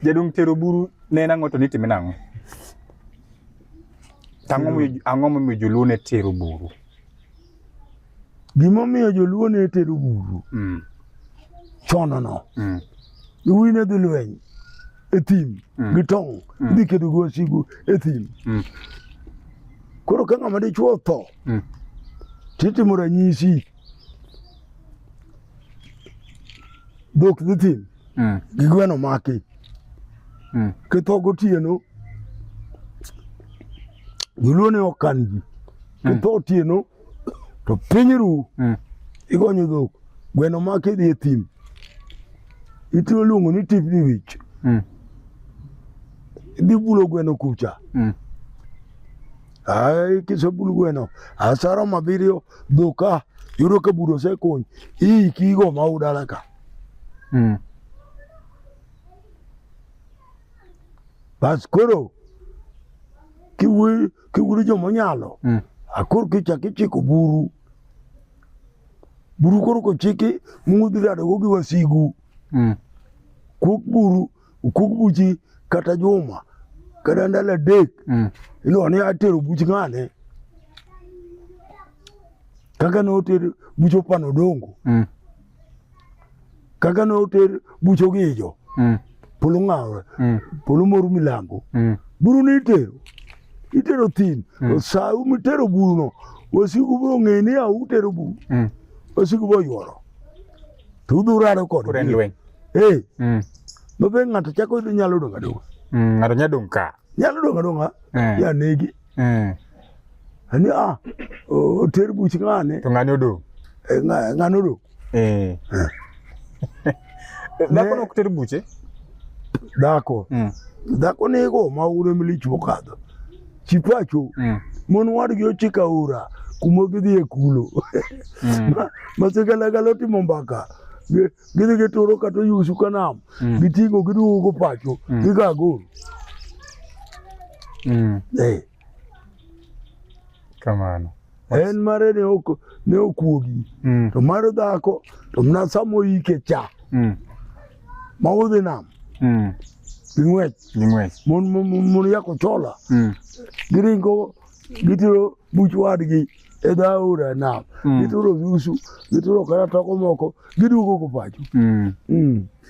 Jaduong' tero buru ne en ang'o to nitime nang'o? Tang'o mo ang'o momiyo joluo ne tero buru? Gima omiyo joluo ne tero buru. Mm. Chono no. Mm. Iwi ne dhi lweny e thim mm. gi tong' mm. dhi kedo gi wasigu e thim. Mm. Koro ka ng'ama dichuo tho mm. titimo ranyisi dhok dhi thim. mm. gi gweno maki mm. kitho gotieno joluo ne ok kan ji mm. kitho otieno to piny ru mm. igonyo dhok gweno maki dhi e thim itiyo luongo ni tipni wich mm. idhi bulo gweno kucha mm. Ai, kisebul gweno asaro mabiriyo dhuka yudo ka buro osekony iikigo ma udala ka Mm. Bas koro kiwiri joma onyalo mm. akor kichak ichiko buru buru koro kochiki mudhi radogo gi wasigu mm. kuk buru ukuk buchi kata juma kata ndalo adek mm. iluwa ni atero buch ng'ane kaka ne oter buch opano dongo mm. kaka ne oter bucho gi ijo mm. polo ng'awre mm. polo moru milambo mm. buru ni itero itero thin mm. sa umi tero buru no wasigu bro ng'e ni a utero buru mm. wasigu bo yuoro to udhi urado kod kuren lweny eh mm. mabe ng'ato chako idhi nyalo donga donga mm. ng'ato nyalo donga nyalo donga donga eh. ya negi mm. ani a ah, oter buch ng'ane to ng'ane odong' eh, ng'ane odong' eh. eh. dhako nok ter buche dhako mm. dhako nigo ma ure milich mokadho chipacho mm. mon wadgi ochika ura kuma gidhi e kulo mm. ma sigalagala otimo mbaka gidhi gituro kata oyusu ka nam mm. giting'o giduogo pacho mm. giga agoro mm. eh. kamano en mare ne ok ne okuogi mm. to mar dhako to mna samo ike cha mm. ma udhi nam mm. ging'wech ging'wech mon mon yako chola mm. giringo gitiro buch wadgi edho aora nam mm. gituro viusu gituro kata toko moko giduogo ko pacho mm. mm.